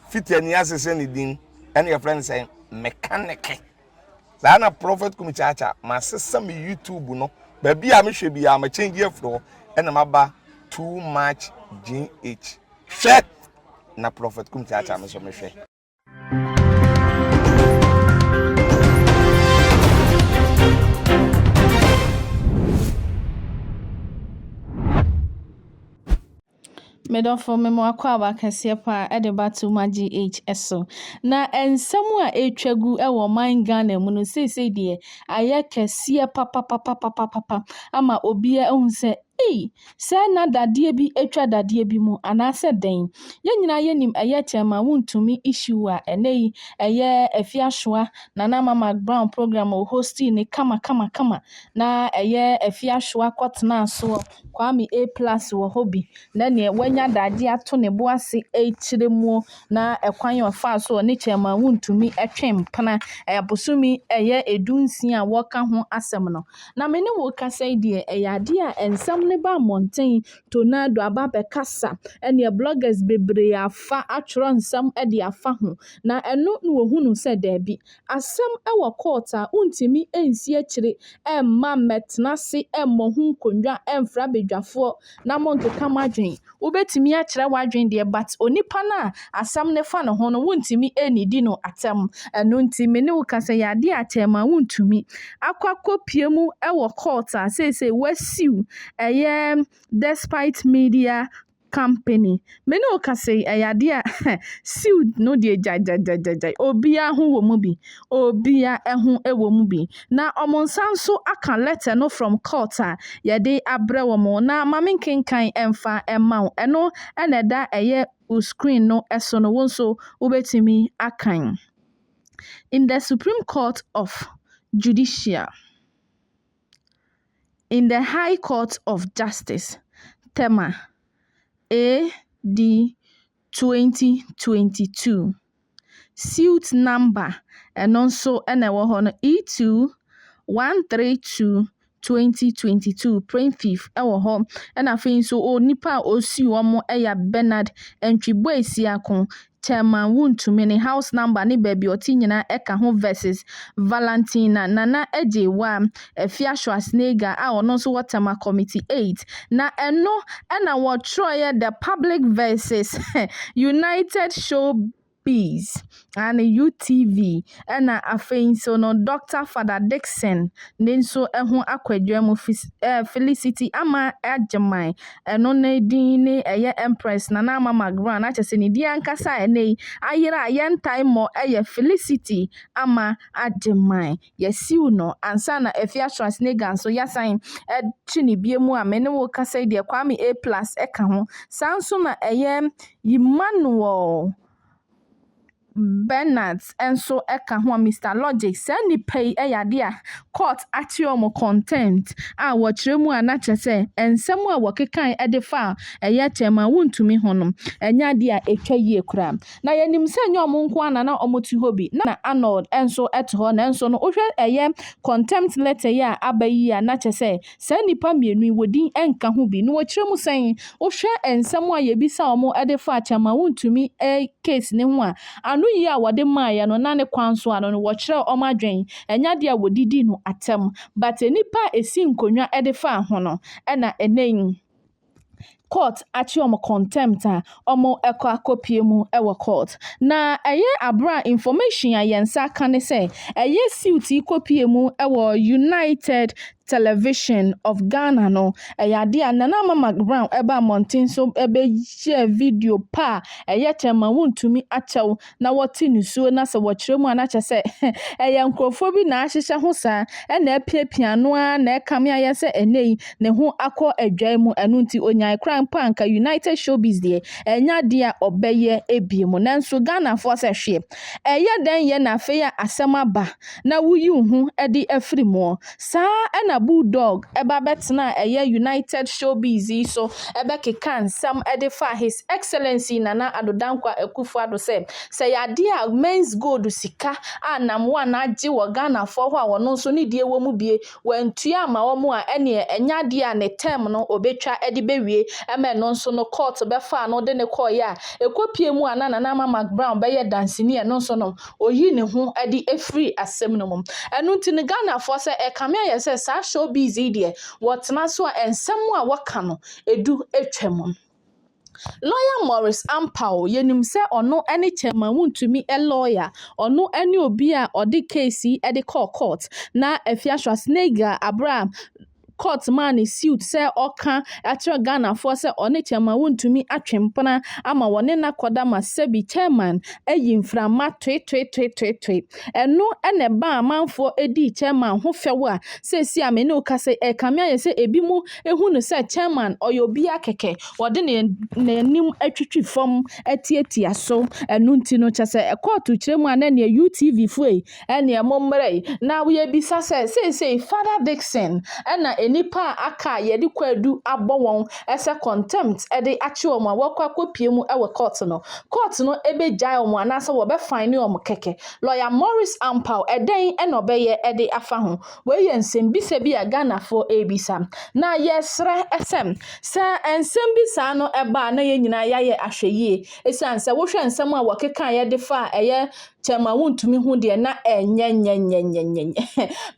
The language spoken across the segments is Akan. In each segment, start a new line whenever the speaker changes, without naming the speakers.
Fiti ani ase sɛ ne din ɛna yɛfrɛ no sɛ mekaneke. Saa na Prophet Kumi Kyaakya masesa me YouTube no baabi a mehwɛ biara ma change afiri hɔ ɛna maba too much GH. Hwɛ na Prophet Kumi Kyaakya me so mehwɛ.
Me dɔfo, me mo akwaaba kɛseɛ paa ɛde ba Tuma GH so. Na nsɛm a ɛtwa gu wɔ ɔman Ghana mu no seesei deɛ ayɛ kɛseɛ papapapapapapa ama obiara ahu sɛ ei sɛ na dadeɛ bi atwa dadeɛ bi mu anaasɛ dɛn. Yɛn nyinaa yɛnim ɛyɛ kyɛn ma wontumi issue a ɛnɛ yi ɛyɛ afiasoa Nana Ama McBrown program o hostii ne kama kama kama na ɛyɛ afiasoa kɔtenaa soɔ. Kwame A plus wɔ hɔ bi na neɛ wanya daagye ato ne bo ase rekyerɛ muo na ɛkwan a ɔfaa so ɔne Chairman Wontumi twe mpena abosome ɛyɛ du nsia a wɔka ho asɛm no. Na me ne wo rekasa yi deɛ ɛyɛ adeɛ a nsɛm no ba mmɔnten tonado aba bɛkasa ɛneɛ bloggers bebree afa atwerɛ nsɛm de afa ho na ɛno na wɔhunu sɛ daabi Asɛm wɔ court a wontumi nsi akyire mma mmɛtena ase mmɔ ho nkonnwa mfra badwafoɔ na monkeka mo adwene. Wobɛtumi akyerɛ w'adwene deɛ but onipa no a asɛm no fa ne ho no wontumi nnidi no atɛm. Ɛno nti me ne wo ka sɛ yɛ adeɛ a kyɛm a wontumi akɔ akɔpue mu wɔ court a seesei wɔasiw ɛyɛ Despite Media Company. Me ne wo kasa yi, ɛyɛ adeɛ a suit no deɛ gyagyagyagyagyae. Obiara ho wɔ mu bi. Obiara ho wɔ mu bi. Na wɔn nsa nso aka letter no from court a yɛde abrɛ wɔn. Na ma me nkenkan mfa mma wo. Ɛno na ɛda ɛyɛ wo screen no so no, wo nso wobɛtumi akan. In the Supreme Court of Judicial. in the High Court of Justice, Tema, AD 2022, suit number ɛno nso na ɛwɔ hɔ no E21322022, Plaintiff wɔ hɔ, ɛna afei nso onipa a ɔsuu wɔn yɛ Bernard Antwi Boasiako, Thelma Wontumi ne house number ne baabi ɔte nyinaa ɛka ho vs Valentina Nana Agyewaa, Afiashoa Snega a ɔno nso wɔ Thelma Committee Eight. Na ɛno na wɔtwerɛeɛ The Public vs United Showbiz and UTV ɛna afei nso no Doctor Fada Dickson ne nso ho akwadwa mu Felicity Amah Agyeman Ɛno ne din ne ɛyɛ Empress Nana Ama Margran na kyerɛ sɛ ne din ankasa a ɛnnɛ yi ayera a yɛntae mmɔ yɛ Felicity Ama Agyemang. Yɛasiw no ansa na Afia Schwarzenegger nso yɛasan akyi no bio a me ne wo rekasa yi deɛ Kwame A Plus ka ho. Saa nso na ɛyɛ Emmanuel Bernards nso ka ho a, Mister Logic, saa nnipa yi yɛ ade a court ate wɔn contempt a wɔkyerɛ mu a na kyerɛ sɛ nsɛm a wɔkekae de faa ɛyɛ kyɛe ma wontumi ho no nyɛ ade a etwa yie koraa. Na yenim sɛ ɛnyɛ wɔn nko ara na na wɔte hɔ bi, na Arnold nso te hɔ, nanso no wohwɛ ɛyɛ contempt letter yi a aba yi a na kyerɛ sɛ Saa nnipa mmienu yi, wɔdin nka ho bi, na wɔkyerɛ mu sɛn? Wohwɛ nsɛm a yɛbisa wɔn de fa akyɛ ma wontumi case no ho a, ano yi a wɔde maeɛ no, na ne kwan so ano no, wɔkyerɛɛ wɔn adwene. Ɛnyɛ adeɛ a wɔde di no atɛm, but nnipa a ɛsi nkonnwa de faa ho no, ɛna ɛnnɛ yi, court akye wɔn contempt a wɔkɔ akɔpue mu wɔ court. Na ɛyɛ abere a information a yɛn nsa aka ne sɛ ɛyɛ suit yi kɔpue mu wɔ United Television of Ghana no, ɛyɛ adeɛ a Nana Ama McBrown ɛbaa mmɔnten so ɛbɛyɛɛ video pa a ɛyɛ kyɛ ma wontumi akyɛw na wɔte nisuo na sɛ wɔkyerɛ mu a na kyerɛ sɛ ɛyɛ nkurɔfoɔ bi na ahyehyɛ ho saa ɛna apiapia ano ara na ɛkame ayɛ sɛ ɛnnɛ yi ne ho akɔ adwae mu ɛno nti ɔnyae koraa mpo a anka United Showbiz deɛ ɛnyɛ adeɛ a ɔbɛyɛ bio mu nanso Ghanafoɔ sɛ hwee ɛyɛ dɛn yɛ na afei a asɛm aba na woyi wo ho de afiri mu Saa ara na Bulldog ba bɛtenaa ɛyɛ United Showbiz yi so bɛkekaa nsɛm de faa His Excellency Nana Addo Dankwa Akufo-Addo sɛ, sɛ ɛyɛ adeɛ a Mens Gold sika a Nam One agye wɔ Ghanafoɔ hɔ a ɔno nso ne deɛ wɔ mu bie, wantua amma wɔn a, ɛneɛ ɛnyɛ adeɛ a ne term no ɔbɛtwa de bɛwie ma ɛno nso no court bɛfaa no de no kɔeɛ a ɛkɔpue mu a na Nana Ama Mac Brown bɛyɛ danseni a ɛno nso no Ɔyi ne ho adi firi asɛm no mu. Ɛno nti no Ghanafoɔ sɛ ɛkame ayɛ sɛ saa show biz yi deɛ wɔtena so a nsɛm a wɔka no ɛdu twa mu. Lawyer Maurice Ampaw, yɛnim sɛ ɔno ne Chairman Wontumi lawyer, ɔno ne obi a ɔde case yi de kɔɔ court na Afia Schwarzenegger berɛ a Court maa no suit sɛ ɔka akyerɛ Ghanafoɔ sɛ ɔne Chairman wontumi atwe mpena ama wɔne no akɔda ma sɛbi Chairman ayi mframa toetoetoetoe. Ɛno na ɛbaa amanfoɔ dii Chairman ho fɛw a seesei a me ne wo kasa yi ɛrekame ayɛ sɛ ebinom hu no sɛ Chairman ɔyɛ obiara kɛkɛ, wɔde ne n'anim atwitwi fam atiatia so. Ɛno nti no kyerɛ sɛ kɔɔto kyerɛ mu a na neɛ UTV foɔ yi Ɛnneɛ mommrɛ na yɛbisa sɛ, seesei Father Dickson na nnipa a aka a yɛde kwaadu abɔ wɔn sɛ contempt de akye wɔn a wɔakɔ akɔpue mu wɔ kɔɔto no, kɔɔto no bɛgyae wɔn anaasɛ wɔbɛfaene wɔn kɛkɛ? Lɔya Morris Ampaw, ɛdɛn na ɔbɛyɛ de afa ho? Wei yɛ nsɛmmisa bi a Ghanafoɔ rebisa. Na yɛresrɛ sɛ, sɛ nsɛm bi saa no ba a na yɛn nyinaa yɛayɛ ahwɛyie, ɛsiane sɛ wohwɛ nsɛm a wɔkekaeɛ de faa ɛyɛ Tɛma wontumi hu deɛ na ɛnyɛnyɛnyɛnyɛnyɛnyɛ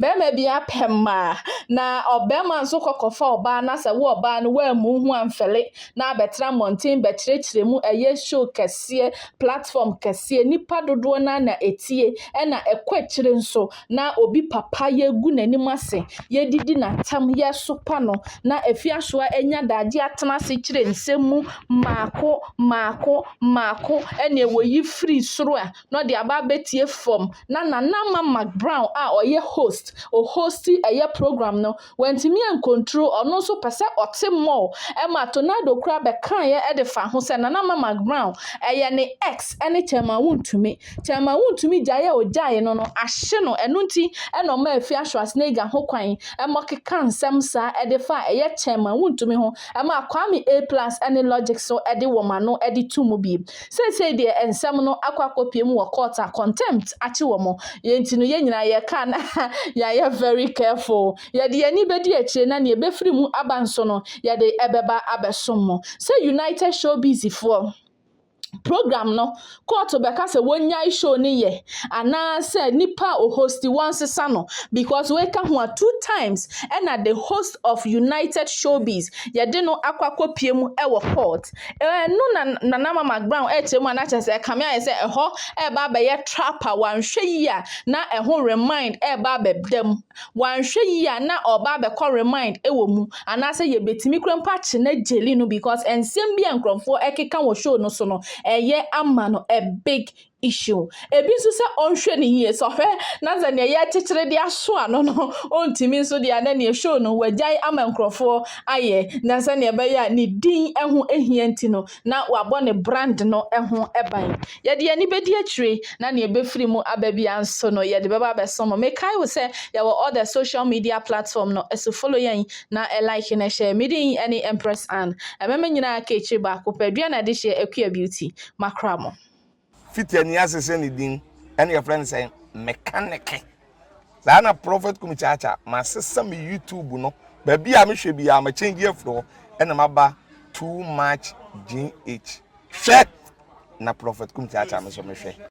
bɛrima bi apɛ mmaa na ɔbɛrima nso kɔkɔfa ɔbaa na sɛ wo ɔbaa no woammu ho amfɛle na abɛtena mmɔnten bɛkyerɛkyerɛ mu ɛyɛ show kɛseɛ platform kɛseɛ nipa dodoɔ no na ɛtie ɛna ɛkɔ akyire nso na obi papa yɛgu n'anim ase, yɛdidi n'atam, yɛsopa no, na afiasoa anya daagye atena ase kyerɛ nsɛm mu mmaako mmaako mmaako ɛnneɛ wɔyi firi soro a, na ɔde aba abɛtie fam. Na Nana Mama Brown a ɔyɛ host, ɔhosti ɛyɛ program no, Wantumi ankontro, ɔno nso pɛ sɛ ɔte mall, ɛma Tornado koraa bɛkaeɛ de faa ho sɛ Nana Mama Brown yɛ ne ex ne Thelma Wontumi. Thelma Wontumi gyaeɛ a ɔgyaee no no ahye no, ɛno nti na ɔmaa Fia Schwarzenegger ho kwan ma ɔkekaa nsɛm saa de faa ɛyɛ Thelma Wontumi ho, ɛmaa Kwame A-Plus ne Logic nso de wɔn ano de too mu bio. Seesei deɛ nsɛm no akɔ akɔpue mu wɔ court a contempt akye wɔn, yɛn nti no yɛn nyinaa yɛka a na yɛayɛ very careful. Yɛde yɛn ani bɛdi akyire na nea ɛbɛfiri mu aba nso no yɛde ɛbɛba abɛsom mo. Sɛ United Showbiz foɔ program no court bɛka sɛ wɔnnyae show no yɛ anaa sɛ nipa a ɔhosti wɔnsesa no because wei ka ho a two times ɛna the host of United Showbiz yɛde no akɔ akɔpue mu wɔ court. Ɛno na Nana Ama McBrown kyerɛ mu a na kyerɛ sɛ ɛkame ayɛ sɛ ɛhɔ reba abɛyɛ trap a wanhwɛ yie a na ɛho remind reba abɛda mu. Wanhwɛ yie a na ɔreba abɛkɔ remind wɔ mu anaasɛ yɛbɛtumi kura mpo akye no agyeli no because nsɛm bi a nkurɔfoɔ ɛkeka wɔ show no so no ɛyɛ ama no a big issue. Ebi nso sɛ ɔnhwɛ no yie, sɛ ɔhwɛ na sɛ nea yɛrekyekyere de aso ano no ɔntumi nso deɛ a, na neɛ show no wagyae ama nkurɔfoɔ ayɛ, na sɛdeɛ ɛbɛyɛ a ne din ho hia nti no, na wabɔ ne brand no ho ban. Yɛde yɛn ani bɛdi akyire, na nea ɛbɛfiri mu aba biara nso no, yɛde bɛba abɛso mo. Mekae wo sɛ yɛwɔ all the social media platform no so, follow yɛn na like na share. Me din ne Empress Anne. Ɛmɛma nyinaa ka akyire baako pɛ, dua na adehyeɛ, Akua Beauty. Makora mo. Fiti ani
ase sɛ ne din ɛna yɛfrɛ no sɛ mekaneke. Saa na Prophet Kumi Kyaakya masesa me YouTube no baabi a mehwɛ biara ma change afiri hɔ ɛna maba too much GH. Hwɛ na Prophet Kumi Kyaakya me so mehwɛ.